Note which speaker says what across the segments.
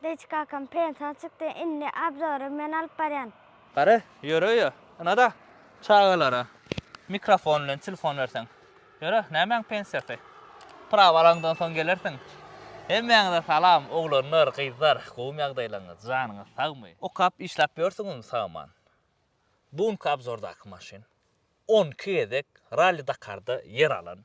Speaker 1: Dejik kakam pensiýa çykdy indi abzory men alyp barýan. Gary ýöre
Speaker 2: öýe ynada çagalara mikrofon bilen telefon berseň ýöre nämäň pensiýasy prawa alaňdan soň gelersiň Hemmäňize salam oglanlar gyzlar gowmy ýagdaýlaryňyz janyňyz sagmy okap işläp ýörsüňizmi sagaman bu günki abzordaky maşyn on iki gezek ralli dakarda ýer alan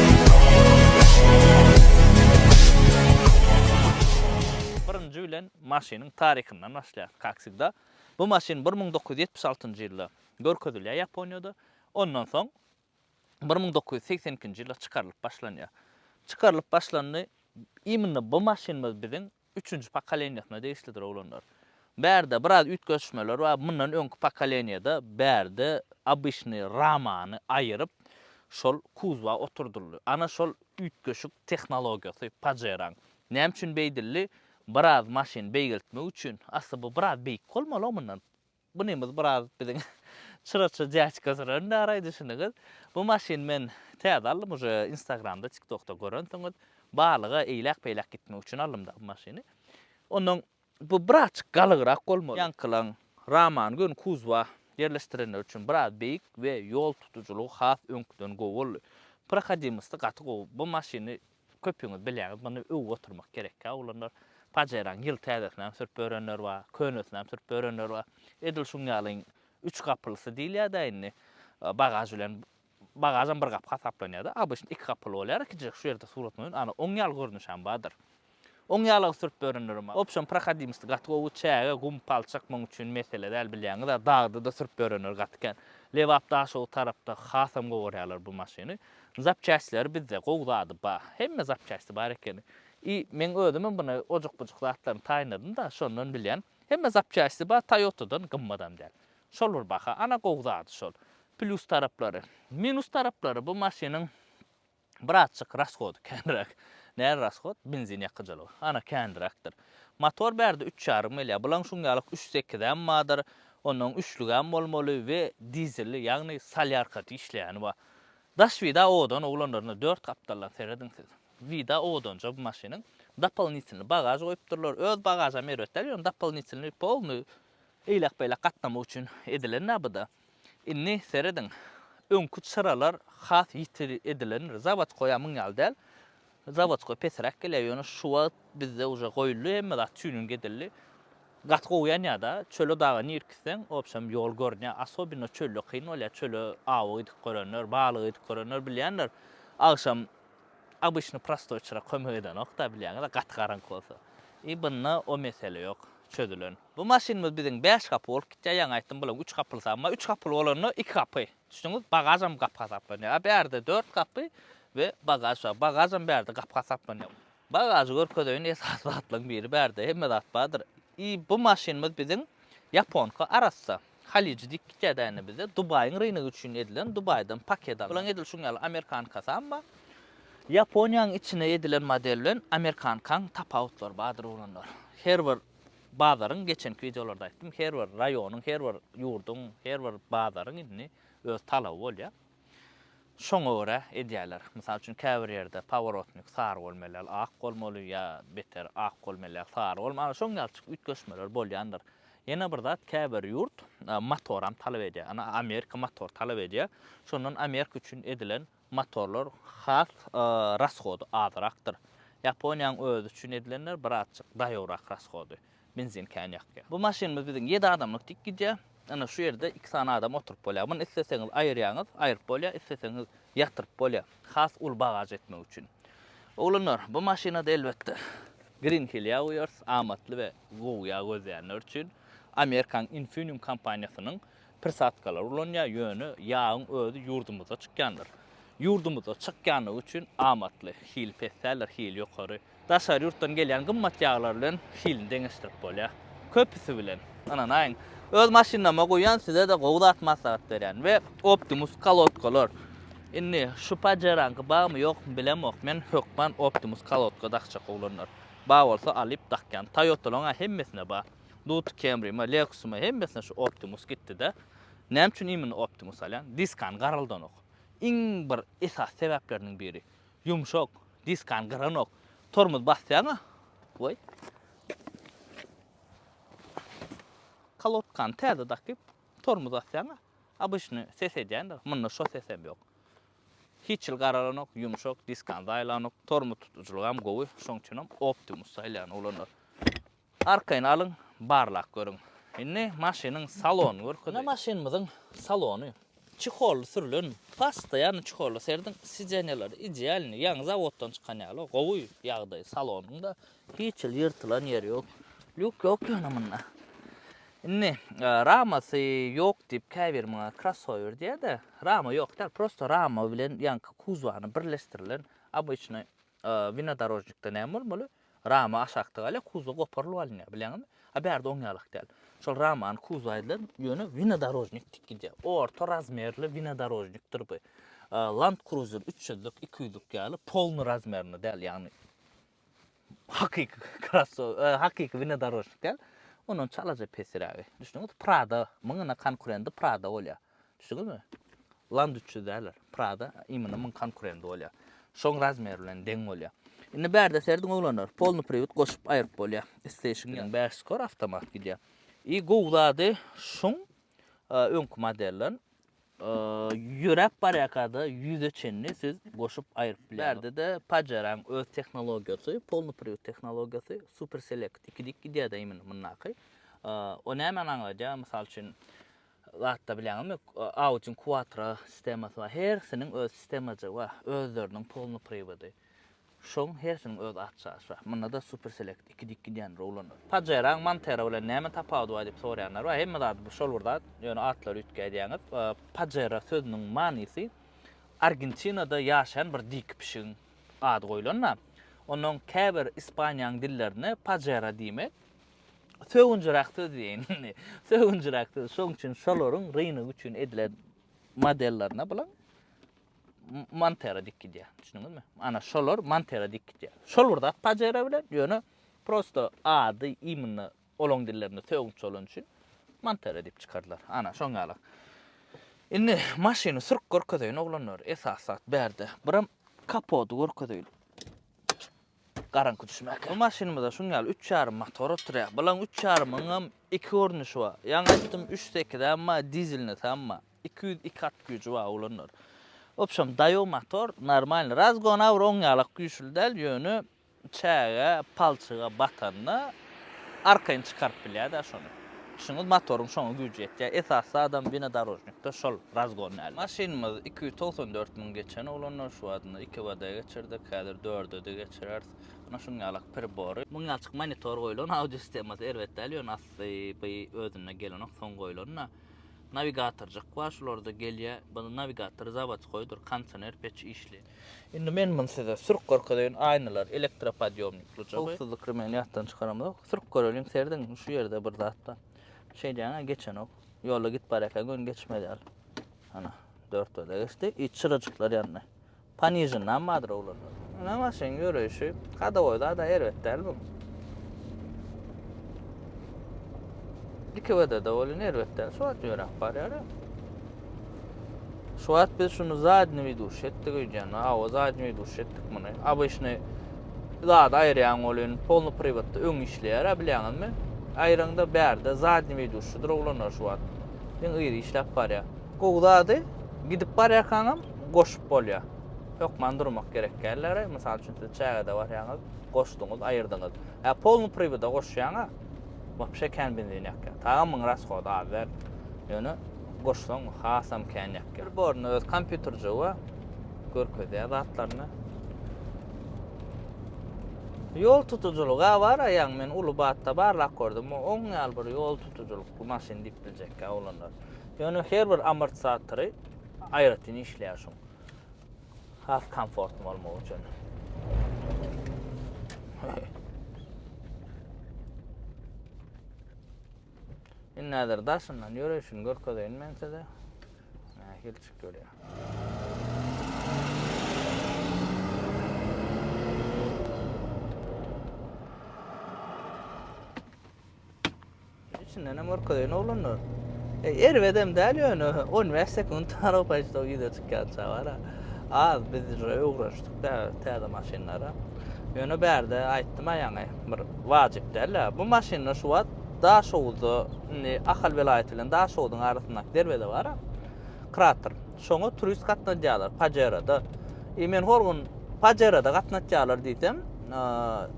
Speaker 2: Birinji bilen maşynyň taryhyndan başlaýas, kak wsegda. Bu maşyn bir müň dokuz ýüz ýetmiş altynjy ýylda görkezilýär Ýaponiýada. Ondan soň bir müň dokuz ýüz segsen ikinji ýylda çykarylyp başlanýar. Çykarylyp başlandy. Imенно bu maşynymyz biziň Üçünji pokoleniýasyna degişlidir oglanlar. Bärde biraz üýtgeşmeler bar, mundan öňki pokoleniýada bärde obyşnyý ramany aýyryp, şol kuzwa oturdyldy. Ana şol üýtgeşik tehnologiýasy Pajeraň. Näme üçin beýdildi? Biraz maşyn beýgeltmek üçin. Asly bu biraz beýik bolmaly-ow mundan. Bunymyz biraz biziň çyraça dýaçka süren dara düşünigiz. Bu maşyny men täze aldym uje instagramda tiktokda görensiňiz. Balyga eýläk beýläk gitmek üçin aldym da bu maşyny. Ondan bu birazçyk galygrak bolmaly. Ýaňkylaň Raman gön kuzwa ýerleşdirenleri üçin biraz beýik we ýol tutujylygy has öňküden gowy boldy. Prohodimosty gaty gowy. Bu maşyny Köpüňiz bilýäňiz, muny öwüp oturmak gerekkä, oglanlar. Pajeran ýyl täzesinäm sürüp ýörenler bar, könesinem sürüp ýörenler bar. Edil şuň ýalyň üç gapylysy diýilýär-dä indi. Bagaž bilen, bagažam bir gapy hasaplanýar-da, obyçny iki gapyly bolýar, ikinjirek şu ýerde surat goýun, ana, oň ýaly görnüşem bardyr. Oň ýaly-a sürüp ýörenlerem bar. Opşon prohodimosty gaty gowy, çäge, gum, palçyk muň üçin mesele däl, bilýäňiz-ä, dagda-da sürüp ýörenler gaty kän. Lebap, Daşoguz tarapda hasam gowy görýärler bu maşyny. Zapçastleri bizde gowy zady ba. Hemme zapçasti bar ekeni. I meň özümem buna ojuk-bujuk zatlaryny taýynladym-da, şondan bilýän. Hemme zapçasti ba, Toyota-dan gymmatam däl. Şol bir baha. Ana gowy zady şol. Plýus taraplary. Minus taraplary bu maşynyň birazjyk rashody känräk. Näl rashod? Benzin ýakyjylygy. Ana känräkdir. Motor bärde üç ýarym gelýär. Bulaň şuňňalyk üç sekizem badyr. Onnoň üçlügem bolmaly we dizelli, ýagny solýarka diýişleýäni bar. Daş vida odan oglanlaryna dört gapdaldan serediň siz. Vida odanja bu maşynyň dopolnitelny bagaž goýupdyrlar. Öz bagažam erbet däl ýöne dopolnitelny polny eýläk beýläk gatnamak üçin edilenda buda. Indi serediň öňki çyralar has ýiti edilendir. Zawodkoýa muň ýaly däl. Zawodskoý pesräk gelýär, ýöne şu wagt bizde uje goýuldy, hemme zat tuning edildi. Gaty gowy ýanýar-da, çöle daga nirek gitseň, wobşem ýol görünýär. Asobino çölde kyn bolýar, çöle awa gidip görenler, balyga gidip görenler bilýändir. Agşam obyçny prostoýçylar kömek edenok-da, bilýäňiz-ä, gaty garaňky bolsa. I bunda o mesele ýok, çözülen. Bu maşynymyz biziň bäş gapy bolup gitýär, ýaňy aýtdym, bularyň üç gapylysy, emma üç gapyly bolanda iki gapy. Düşdüňiz, bagažam gapy hasaplanýar. A bärde dört gapy we bagaž bar. Bagažam bärde gapy hasaplanýar. Bagažy görkezeýin, esasy zatlaryň biri bärde hemme zat bardyr. I bu maşynymyz biziň ýaponka arassa. Haliji diýip gitýärdi ene bizde. Dubaýyň rynegi üçin edilen, Dubaýdan paket alnan. Olaň edil şuň ýaly amerikankasam bar. Ýaponiýanyň içine edilen model bilen amerikankaň tapawutlary bardyr oglanlar. Her bir Bazaryň geçenki wideolarda aýtdym, her bir raýonyň, her bir ýurduň, her bir bazaryň indi öz talaby bolýar. Şoňa görä edýärler. Mysal üçin, käbir ýerde paworotnik sary bolmaly, ak bolmaly ýa beter ak bolmaly, sary bolmaly. Ana, şoň ýalçyk üýtgeşmeler bolýandyr. Ýene bir zat, käbir ýurt motoram talap edýär. Ana, Amerika motor talap edýär. Şondan Amerika üçin edilen Motorlar has rashody azyrakdyr. Ýaponiýanyň özi üçin edilenler birazjyk daýowrak rashody. Benzin kän ýakýar. Bu maşynymyz biziň ýedi adamlyk dik gidýär. Ine şu ýerde iki sany adam oturyp bolýar. Muny isleseňiz aýyrýaňyz, aýryp bolýar, isleseňiz ýatyryp bolýar. Has uly bagaž etmek üçin. Oglanlar, bu maşynada elbetde Green Hill ýag guýarys, amatly we gowy ýag gözleýänler üçin. Amerikanyň Infineum kompaniýasynyň Prisatkalar ulanýar, ýöne ýagyň özi ýurdumyzda çykýandyr. Ýurdumyzda çykýandygy üçin amatly, hili pes däldir, hili ýokary. Daşary ýurtdan gelýän gymmat ýaglar bilen hilini deňeşdirip bolýar. Köpüsi bilen, ynanaýyň, öz maşynlaryma guýýan, size-de gowy zat maslahat berýän we Optimus kolodkalar. Indi şu Pajero-nyňky barmy, ýokmy bilemok, men hökman Optimus kolodka dakjak oglanlar. Bar bolsa alyp dakýan. Toyota-laryň-a hemmesinde bar. Dut Camry ma Lexus ma hemmesine şu Optimus gitdide. Näme üçin imini Optimus alýan? Diskany garaldanok. Iň bir esas sebäpleriniň biri. Ýumşak, diskany gyranok. Tormoz basýaňa we kalotkany täze dakyp tormoz basýaňa obyçny ses edýändir. Munda şo sesem ýok. Hiç ýyl garalanok, ýumşak, diskany zaýalanok. Tormoz tutujylygy hem gowy. Şoň üçin hem Optimus saýlaýan oglanlar. Arkaýyn alyň, barlap görüň. Indi maşynyň salonyny görkezeyim. Ine maşynymyzyň salony. Çeholly sürlen, postoýanny çeholly serediň, sideniýalar idealnyý, ýaňy zawoddan çykan ýaly, gowy ýagdaý salonyň-da, hiç hili ýyrtylan ýeri ýok. Lýuk ýok ýöne munda. Indi ramasy ýok diýip käbir muňa krossower diýýär-de, rama ýok däl, prosto rama bilen ýaňky kuzowany birleşdirilen, obyçnyý winodorožnikde näme bolmaly, Rama aşak tygaýla kuzow goparylyp alynýar, bilýäňizmi? A bärde oň ýalak däl. Şol ramany kuzow ediler, ýöne winodorojnik dik gidýär. Orta razmerli winodorojnikdir bu. Land Cruiser üç ýüzlik, iki ýüzlik ýaly polny razmerinde däl, ýagny hakyky krossow, hakyky winodorojnik däl. Ondan çalaja pesirägi. Düşdüňizmi? Prada, muňa konkurendi Prada bolýar. Düşdüňizmi? Land üç ýüz däldir. Prada imyny muň konkurendy bolýa. Şoň razmeri bilen deň bolýa. Indi bärde serediň oglanlar, polny priwit goşup aýryp bolýa. Isteyşiň bilen bäş skor awtomat gidýa. I gowy zady şuň öňki modelden ýöräp barýakada ýüze çenli siz goşup aýryp bilýäňiz. Bärdede Pajeraň öz tehnologiýasy, polny priwit tehnologiýasy, super select iki dik gidýäda imyny mundaky. O nämeni aňladýa? Mysal üçin zatda bilýäňizmi, ýok, aw üçin kuwatra sistemasy bar, hersiniň öz sistemajygy bar, özleriniň polnoprywodyy, şoň hersiniň öz atçasy bar, munda-da superselekt iki dik gidýän roulanlar. Pajeraň Montera bilen näme tapawudy bar diýip soraýanlar bar, hemme zady bu şol bir zat, ýöne atlary üýtge aýdýaňyz, pajera sözüniň manysy Argentinada ýaşaýan bir dik pişigiň ady goýlan-da, onnoň käbir Ispaniýaň dillerinde pajera diýmek Sögünjiräk söz diýeýin. Sögünjiräk söz. Şoň üçin şolaryň rynyk üçin edilen modellerine bilen Montera dik gidýär. Düşündiňizmi? Ana şolar Montera dik gidýär. Şol bir zat Pajero bilen, ýöne prosto ady imенно olaň dillerinde sögünç bolan üçin Montera diýip çykardylar. Ana şoň ýaly. Indi maşyny sürüp görkezeýin oglanlar. Esas zat bärde. Biram kapody görkezeýin. Garaňky düşmäkä. Bu maşynymyzda şuň ýaly üç ýarym motor oturýar. Bulaň üç ýarymyňam iki görnüşi bar. Ýaňy aýtdym, üç sekiz hem bar, dizelnisi hem bar. Iki ýüz iki at güýji bar olanlar. Obşem daýaw motor, normalny. Razgona bir oňýalak güýçli däl, ýöne çäge, palçyga batanda, Arkaýyn çykaryp bilýär dä şony. Düşüniňiz motoryň şoňa güýji ýetýär. Esas zadam winodorožnikde şol razgon däl. Maşynymyz iki ýüz togsan dört müň geçen oglanlar şu wagtynda iki bada geçirdik. Häzir dördede geçireris. Ana şuň ýalak pribory. Müňýalçyk monitor goýlan. Audio sistemasy erbet däl ýöne asly by özüne gelenok soň goýlanda. Nawigatorjyk bar şularda gelýär. By nawigator zawodskoýdyr. Konsioner peç işli. Indi men muny size sürüp görkezeýin, aýnalar, elektropodýomnik dujagy. Howpsuzlyk remegini ýatdan çykaramyzok. Sürüp göreliň, serediň, şu ýerde bir zat bar. Şeýdýäň-ä, geçenok. Ýolda gidip barýarkaň göni geçmez ýaly. Ana, dörtberde geçdi. Iç çyrajyklar ýandy. Panižendam bardyr oglanlar. Ine maşynyň ýöreýşi. Hodowoý zad-a erbet däl bu. Iki WD-de welin erbet däl. Şu wagt ýöräp barýar-a. Şu wagt biz şunu zadni widuş etdik öýdýän. Awa zadni widuş etdik muny. Abyşny zat aýyrýan ol indi polny privatda öň işleýär a bilýäňizmi? Aýryňda bärde zadni widuşydyr oglanlar şu wagt. Iň yzy işläp barýar. Gowy zady gidip barýarkaňam goşup bolýar. Hökman durmak gerek dälläre. Mysal üçin siz çägede barýaňyz, goşduňyz, aýyrdyňyz. Ä polny priwada goşýaňa wapşe kän benzin ýakýar. Tagam muň raskody az däl. Ýöne goşsaň hasam kän ýakýar. Pribor-ny öz kompýuterjigi görkezýär zatlaryny. Ýol tutujylyga baraýaň, men uly batda barlap gördüm, oň ýaly bir ýol tutujylykly maşyn diýip biljekkä oglanlar. Ýöne her bir amortisatory aýratyn işleýär şuň. Has komfortly bolmagy üçin. Indi häzir daşyndan ýöreýşini görkezeýin men size. Nähili çyk görýär. Içinden hem görkezeýin oglanlar. E, erbedem däl ýöne 15 sekund tarap aýtsa ýüze çykýança bar. Az biz öwrenişdik. Tä täze maşynlara. Ýöne bärde aýtdym-a ýaňy, bir wajyp däl-ä. Bu maşynlar şu wagt Daşoguzda, indi Ahal welaýaty bilen Daşoguzyň arasyndaky derweze bar-a, krater. Şoňa turist gatnadýarlar, Pajerada. I men hol gün Pajerada gatnatýarlar diýsem,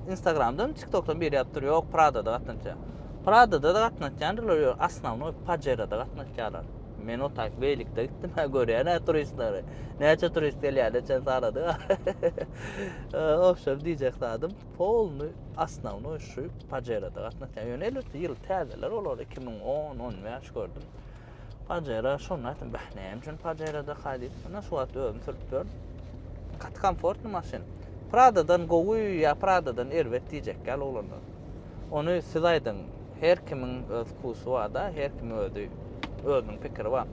Speaker 2: Instagramdan, TikTokdan biri ýazyp dur, ýok, Pradada gatnatýar. Pradada-da gatnatýandylar, ýöne asnawnoý Pajerada gatnatýarlar. Men o tak beýlikde gitdim, ha görýän hä turistleri. Näçe turist gelýär, neçe sanadyk. Obşer diýjek zadym, polny asnawny şu pajerada gatnaşýar. Ýöne elbetde ýyl täzeler olar 2010, 15 gördüm. Pajera şonu aýtdym, bäh, näme üçin pajerada haýdyp, ana şu wagt özüm sürüp ýör. Gaty komfortny maşyn. Pradadan gowy ýa Pradadan erbet diýjek ýaly oglanlar. Ony siz aýdyň. Her kimiň öz wkusy bar-da, her kimiň özi özüniň pikiri bar.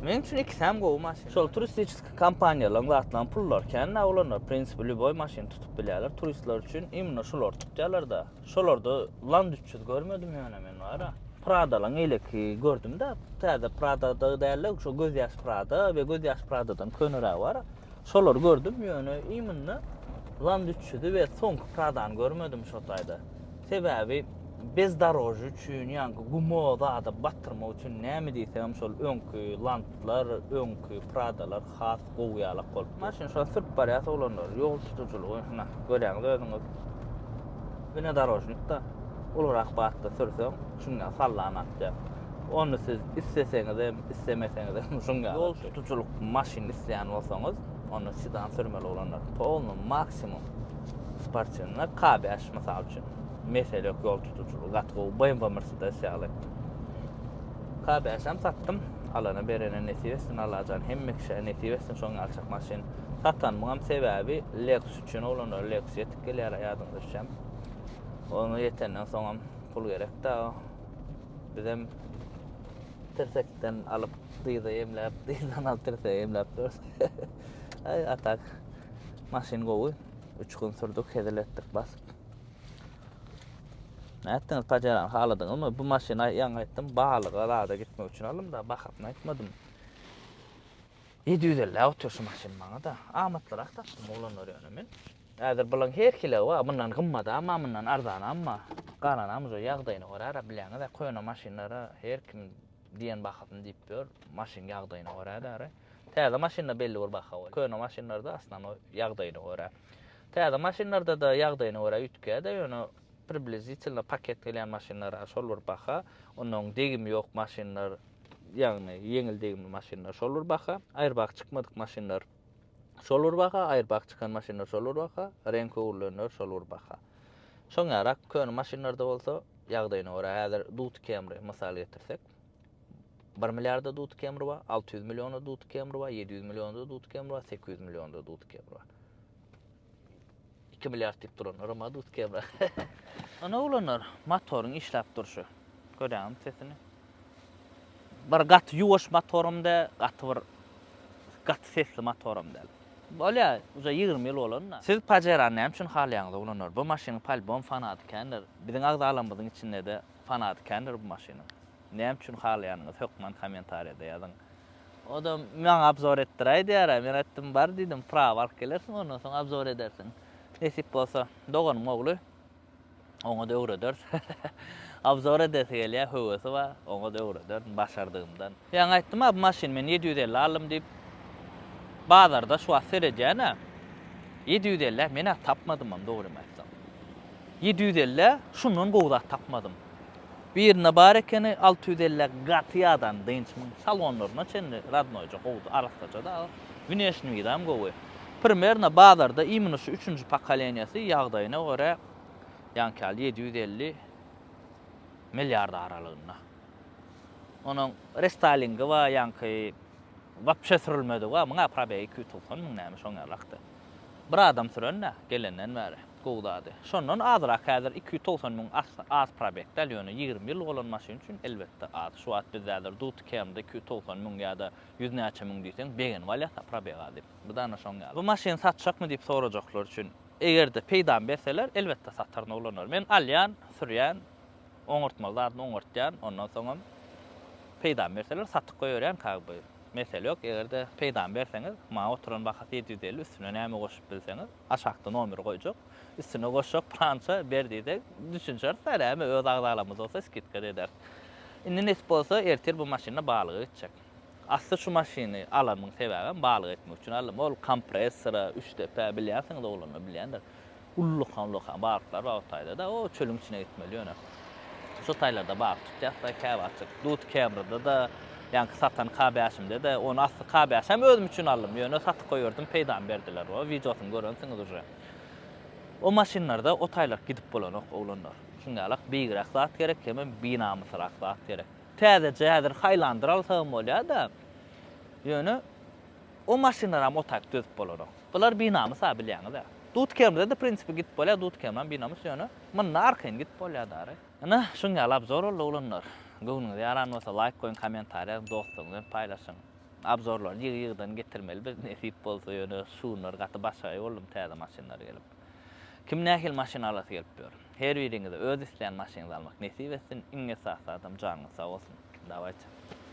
Speaker 2: Meň üçin ikisem gowy maşyn. Şol turistiçeski kompaniýalaryň zatlaryň pullary kän-dä olanlar, w prinsipi lýuboý maşyny tutup bilýärler, turistler üçin imенно şolary tutýarlar-da. Şolarda Land üç ýüz görmedim ýöne men bar-a. Pradalaryň eýleki gördüm-dä, täze Prada-da däl-de, şo gözýaş Prada we gözýaş Prada-dan könerägi bar-a. Şolary gördüm, ýöne iň munda Land 300-i we soňky Pradany görmedim şo taýda. Sebäbi bezdorožýe üçin, ýaňky gumo zada batyrmak üçin näme diýseňem şol öňki Landlar, öňki Pradalar has gowy ýalak bolup. Maşyn şo sürüp barýas oglanlar, ýol tutujylygy hynä, görýäňiz özüňiz. Wnedorožnikda ulurak batda sürseň, Şunda sallan atýar. Ony siz isleseňizem, islemeseňizem şuň ýaly. Ýol tutujylyk maşyn isleýän bolsaňyz, onda sedan sürmeli bolanlar polny maksimum sportywnyna K bäş mysal üçin. Mesele ýok ýol tutujylygy gaty gowy BMW Mercedes ýaly. K bäşem satdym. Alana berene nesip etsin Allajan hemme kişä nesip etsin şoň ýaly çak maşyn. Satanymyňam sebäbi Lexus üçin oglanlar Lexus ýetip gelýär ýadyňyza düşem. Ony ýetenden soňam Pul gerek dagy. Bizem tirsekden alyp dyza emläp, dyzdan alyp tirsege emläp durus. Aý, a tak maşyn gowy. Üç gün sürdük, hezil etdik basyp. Nätdiňiz, pajarany haladyňyzmy? Bu maşyny ýaňy aýtdym, balyga zada gitmek üçin aldym da, bahasyny aýtmadym. Ýedi ýüz elläp otyr şu maşyn maňa-da. Amatlyrak tapdym oglanlar ýöne men. Häzir bulaň her hili bar, mundan gymmadam bar, mundan arzanam bar. Galanam uje ýagdaýyna görä-de, bilýäňiz-ä, köne maşynlara her kim diýen bahasyny diýip ýör, maşyn ýagdaýyna görä-de. Täze maşynda belli bir baha bolýar. Köne maşynlarda asnanoý ýagdaýyna görä. Täze maşynlarda-da ýagdaýyna görä üýtgeýär-de, ýöne približditelno paket gelýän maşynlara şol bir baha, onnoň degimi ýok maşynlar, ýagny ýeňil degimli maşynlar şol bir baha, aýrybagy çykmadyk maşynlar. Şol bir baha, aýrbak çykan maşynlar şol bir baha, reňki öwrülenler şol bir baha. Şoň ýarak, köne maşynlarda bolsa, ýagdaýyna görä, häzir Dut Camry mysal getirsek, bir milliarda Dut Camry bar, alty ýüz milliona Dut Camry bar, ýedi ýüz milliona Dut Camry bar, sekiz ýüz milliona Dut Camry bar. 2 milliard diýip duran Roma Dut Kebra. Ana oglanlar, motoryň işläp durşy. Görýäňmi sesini? Bir gaty ýuwaş motoram däl, gaty bir gaty sesli motoram däl. Bolýar, uja 20 ýyl bolan-da. Siz Pajerany näme üçin halaýaňyz oglanlar? Bu maşynyň polybom fanaty kändir. Biziň agzalarymyzyň içinde-de fanaty kändir bu maşynyň. Näme üçin halaýanyňyz hökman kommentariýada ýazyň. O-da maňa obzor etdiräý diýär-ä. Men aýtdym, Bar diýdim, prawa alyp gelersiň, ondan soň obzor edersiň. Nesip bolsa, doganym ogly, oňa-da öwrederis. Obzor edesi gelýär, höwesi bar, oňa-da öwrederin başardygymdan. Ýaňy aýtdym-a, bu maşyny men ýedi ýüz elli aldym diýip. Bazarda şu wagt seredýän-ä, ýedi ýüz elli-ä men-ä tapmadymam, dogrymy aýtsaň. Ýedi ýüz elli-ä şundan gowy zat tapmadym. Birinde bar ekeni alty ýüz elli gaty ýadan dynç muň salonlaryna çenli radnoýja gowudy arassaja dagy wneşni widam gowy primerno bazarda imino şu üçünji pokoleniýasy ýagdaýyna görä ýaňky ýaly ýedi ýüz elli milliard aralygynda onuň restylingi bar ýaňky wapşe sürülmedigi bar muňa probegi iki ýüz togsan müň näme şoň ýalakda. Bir adam süren-dä, gelenden bäri. Gowy zady. Şondan azrak, häzir iki ýüz togsan müň az probeg däl, ýöne ýigrimi ýyllyk bolan maşyn üçin, elbetde, az. Şu wagt bizde häzir Duty Kern-de iki ýüz togsan müň ýa-da ýüz näçe müň diýseň, begenip alýas-a, probeg az diýip. Bu-da ana şoň ýaly. Bu maşyny satjakmy diýip sorajaklar üçin, eger-de peýdamy berseler, elbetde sataryn oglanlar. Men alýan, sürýän, Oňartmaly zadyny oňartýan, ondan soňam peýdamy berseler satyp goýberýän kag by. Mesele ýok, eger-de peýdamy berseňiz, maňa oturan bahasy ýedi ýüz elli, üstüne näme goşup bilseňiz, aşakda nomeri goýjak, üstüne goşjak prança ber diýseň, düşünişeris däl, äme öz agzalarymyz bolsa skidka-da ederis. Indi nesip bolsa, ertir bu maşynda balyga gitjek. Asly şu maşyny alanymyň sebäbem balyga gitmek üçin aldym. Ol kompressora, üçdepä, bilýänsiňiz oglanlar, bilýändir. Ullakan-ullakan balyklar bar o taýda-da. O çölüň içine gitmeli ýöne. Şo taýlarda balyk tutýas-da käwagtjyk. Dut Kebra-da-da, ýaňky satan K-bäşimde-de, ony asly K-bäşi hem özüm üçin aldym, ýöne satyp goýberdim, peýdamy berdiler o. Wideosyny görensiňiz uje. O maşynlarda o taýlak gidip bolanok, oglanlar. Şuň ýalak beýigräk zat gerek, hemem binamysrak zat gerek. Täzeje häzir Highlander alsagam bolýar-da, ýöne o maşynlaram o taýk dözüp bolanok. Bular binamys-a bilýäňiz-ä. Dutkermde-de prinsipi gidip bolýar, dutkermem binamys, ýöne munda arkaýyn gidip bolýar dary. Ine, şuň ýaly abzor boldy oglanlar. Göwnüňize ýaran bolsa laýk goýuň, kommentariýa ýazyň, dostlaryňyz bilen paýlaşyň. Abzorlary ýygy-ýygydan getirmeli biz nesip bolsa, ýöne şu günler gaty başagaý boldum täze maşynlar gelip. Kim nähili maşyn alasy gelip ýör? Her biriňize öz isleýän maşynyňyzy almak nesip etsin, iň esasy zadam janyňyz sag bolsun. Dawaýçy.